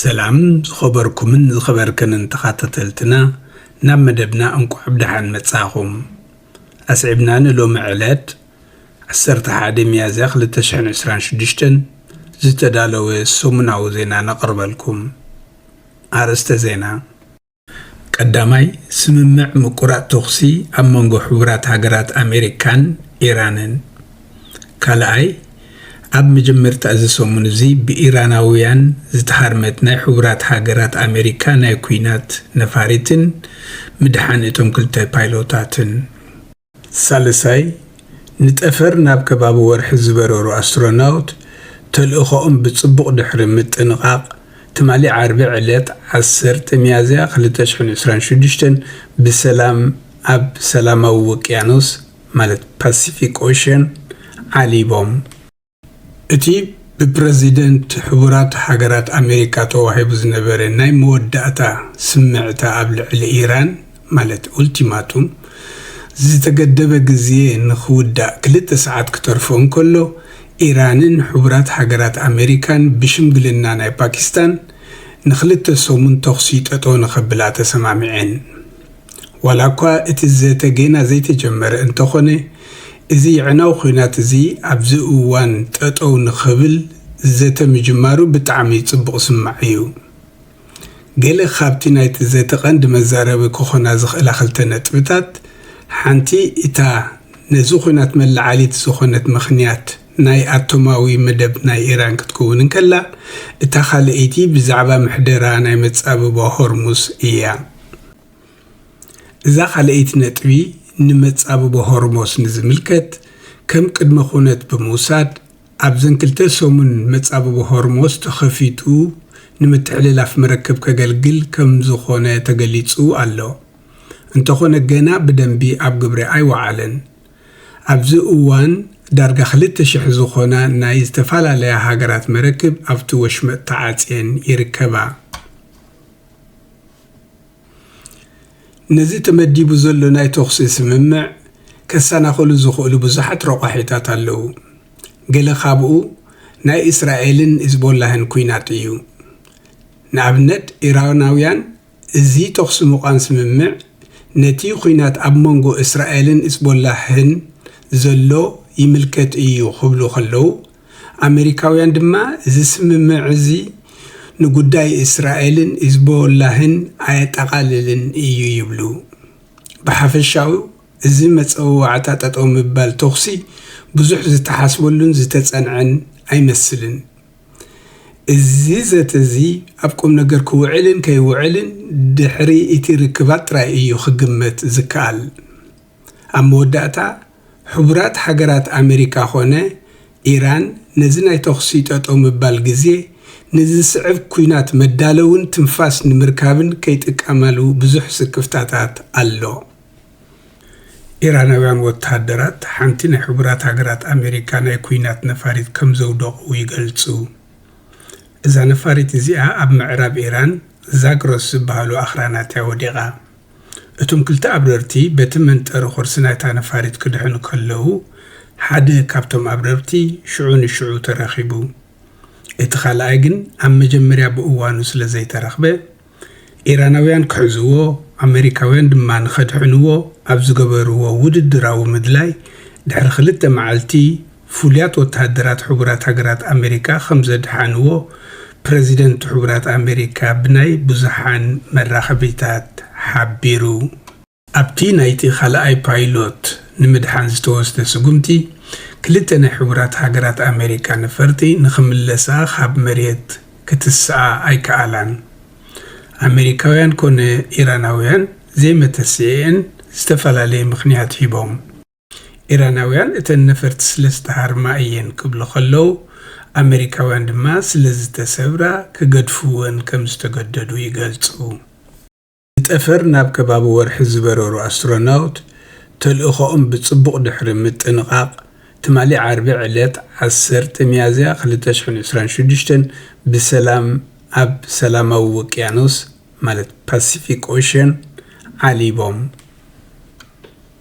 ሰላም ዝኸበርኩምን ዝኸበርክንን ተኻታተልትና ናብ መደብና እንቋዕ ብደሓን መጻኹም ኣስዒብና ንሎሚ ዕለት ዓሰርተ ሓደ ሚያዝያ ክልተ ሽሕን ዕስራን ሽዱሽተን ዝተዳለወ ሰሙናዊ ዜና ነቕርበልኩም ኣርእስተ ዜና ቀዳማይ፣ ስምምዕ ምቁራጽ ተኹሲ ኣብ መንጎ ሕቡራት ሃገራት ኣሜሪካን ኢራንን። ካልኣይ፣ ኣብ መጀመርታ እዚ ሰሙን እዚ ብኢራናውያን ዝተሃርመት ናይ ሕቡራት ሃገራት ኣሜሪካ ናይ ኲናት ነፋሪትን ምድሓን እቶም ክልተ ፓይሎታትን። ሳልሳይ፣ ንጠፈር ናብ ከባቢ ወርሒ ዝበረሩ ኣስትሮናውት ተልእኾኦም ብጽቡቕ ድሕሪ ምጥንቓቕ፣ ትማሊ ዓርቢ ዕለት ዓሰርተ ሚያዝያ ክልተ ሽሕን ዕስራን ሽዱሽተን ብሰላም ኣብ ሰላማዊ ውቅያኖስ ማለት ፓሲፊክ ኦሸን ዓሊቦም። እቲ ብፕረዚደንት ሕቡራት ሃገራት ኣሜሪካ ተዋሂቡ ዝነበረ ናይ መወዳእታ ስምዕታ ኣብ ልዕሊ ኢራን ማለት ኡልቲማቱም ዝተገደበ ግዜ ንኽውዳእ ክልተ ሰዓት ክተርፎ እንከሎ ኢራንን ሕቡራት ሃገራት ኣሜሪካን ብሽምግልና ናይ ፓኪስታን ንኽልተ ሰሙን ተኹሲ ጠጠው ንኸብላ ተሰማሚዐን። ዋላኳ እቲ ዘተ ጌና ዘይተጀመረ እንተኾነ፣ እዚ የዕናዊ ኹናት እዚ ኣብዚ እዋን ጠጠው ንኽብል ዘተ ምጅማሩ ብጣዕሚ ፅቡቕ ዝስማዕ እዩ። ገለ ኻብቲ ናይቲ ዘተ ቐንዲ መዛረቢ ክኾና ዝኽእላ ኽልተ ነጥብታት፣ ሓንቲ እታ ነዚ ኹናት መለዓሊት ዝኾነት ምኽንያት ናይ ኣቶማዊ መደብ ናይ ኢራን ክትክውን እንከላ፣ እታ ኻልኣይቲ ብዛዕባ ምሕደራ ናይ መፃብባ ሆርሙዝ እያ። እዛ ካልኣይቲ ነጥቢ ንመጻብቦ ሆርሞስ ንዝምልከት ከም ቅድመ ኩነት ብምውሳድ ኣብዘን ክልተ ሰሙን መጻብቦ ሆርሞስ ተኸፊቱ ንምትሕልላፍ መረክብ ከገልግል ከምዝኾነ ተገሊጹ ኣሎ እንተኾነ ገና ብደንቢ ኣብ ግብሪ ኣይወዓለን ኣብዚ እዋን ዳርጋ ክልተ ሽሕ ዝኾና ናይ ዝተፈላለያ ሃገራት መረክብ ኣብቲ ወሽመጥ ተዓጽየን ይርከባ። ነዚ ተመዲቡ ዘሎ ናይ ተኹሲ ስምምዕ ከሰናኽሉ ዝኽእሉ ብዙሓት ረቋሒታት ኣለዉ። ገለ ካብኡ ናይ እስራኤልን ሂዝቦላህን ኲናት እዩ። ንኣብነት ኢራናውያን እዚ ተኹሲ ምቛም ስምምዕ ነቲ ኲናት ኣብ መንጎ እስራኤልን ሂዝቦላህን ዘሎ ይምልከት እዩ ክብሉ ከለዉ ኣመሪካውያን ድማ እዚ ስምምዕ እዚ ንጉዳይ እስራኤልን ሂዝቦላህን ኣየጠቓልልን እዩ ይብሉ። ብሓፈሻኡ እዚ መጸዋዕታ ጠጠው ምባል ተኹሲ ብዙሕ ዝተሓስበሉን ዝተጸንዐን ኣይመስልን። እዚ ዘተ እዚ ኣብ ቁምነገር ክውዕልን ከይውዕልን ድሕሪ እቲ ርክባት ጥራይ እዩ ክግመት ዝከኣል። ኣብ መወዳእታ ሕቡራት ሃገራት ኣመሪካ ኮነ ኢራን ነዚ ናይ ተኹሲ ጠጠው ምባል ግዜ ንዝስዕብ ኲናት መዳለውን ትንፋስ ንምርካብን ከይጥቀማሉ ብዙሕ ስክፍታታት ኣሎ። ኢራናውያን ወተሃደራት ሓንቲ ናይ ሕቡራት ሃገራት ኣመሪካ ናይ ኲናት ነፋሪት ከምዘውደቑ ይገልጹ። እዛ ነፋሪት እዚኣ ኣብ ምዕራብ ኢራን ዛግሮስ ዝበሃሉ ኣኽራናት'ያ ወዲቓ። እቶም ክልተ ኣብረርቲ በቲ መንጠሪ ቁርሲ ናይታ ነፋሪት ክድሕኑ ከለዉ፣ ሓደ ካብቶም ኣብረርቲ ሽዑ ንሽዑ ተረኺቡ። እቲ ካልኣይ ግን ኣብ መጀመርያ ብእዋኑ ስለ ዘይተረኽበ፣ ኢራናውያን ክሕዝዎ፣ ኣመሪካውያን ድማ ንኸድሕንዎ ኣብ ዝገበርዎ ውድድራዊ ምድላይ ድሕሪ ክልተ መዓልቲ ፍሉያት ወተሃደራት ሕቡራት ሃገራት ኣመሪካ ከም ዘድሓንዎ ፕረዚደንት ሕቡራት ኣመሪካ ብናይ ብዙሓን መራኸቢታት ሓቢሩ። ኣብቲ ናይቲ ካልኣይ ፓይሎት ንምድሓን ዝተወስደ ስጉምቲ፣ ክልተ ናይ ሕቡራት ሃገራት ኣመሪካ ነፈርቲ ንኽምለሳ ካብ መሬት ክትስኣ ኣይከኣላን። ኣመሪካውያን ኮነ ኢራናውያን ዘይመተስኤኤን ዝተፈላለየ ምኽንያት ሂቦም። ኢራናውያን እተን ነፈርቲ ስለ ዝተሃርማ እየን ክብሉ ከለው፣ ኣመሪካውያን ድማ ስለ ዝተሰብራ ክገድፍወን ከም ዝተገደዱ ይገልጹ። ንጠፈር ናብ ከባቢ ወርሒ ዝበረሩ ኣስትሮናውት፣ ተልእኾኦም ብጽቡቕ ድሕሪ ምጥንቓቕ፣ ትማሊ ዓርቢ ዕለት ዓሰርተ ሚያዝያ ክልተ ሽሕን ዕስራን ሽዱሽተን ብሰላም ኣብ ሰላማዊ ውቅያኖስ ማለት ፓሲፊክ ኦሸን ዓሊቦም።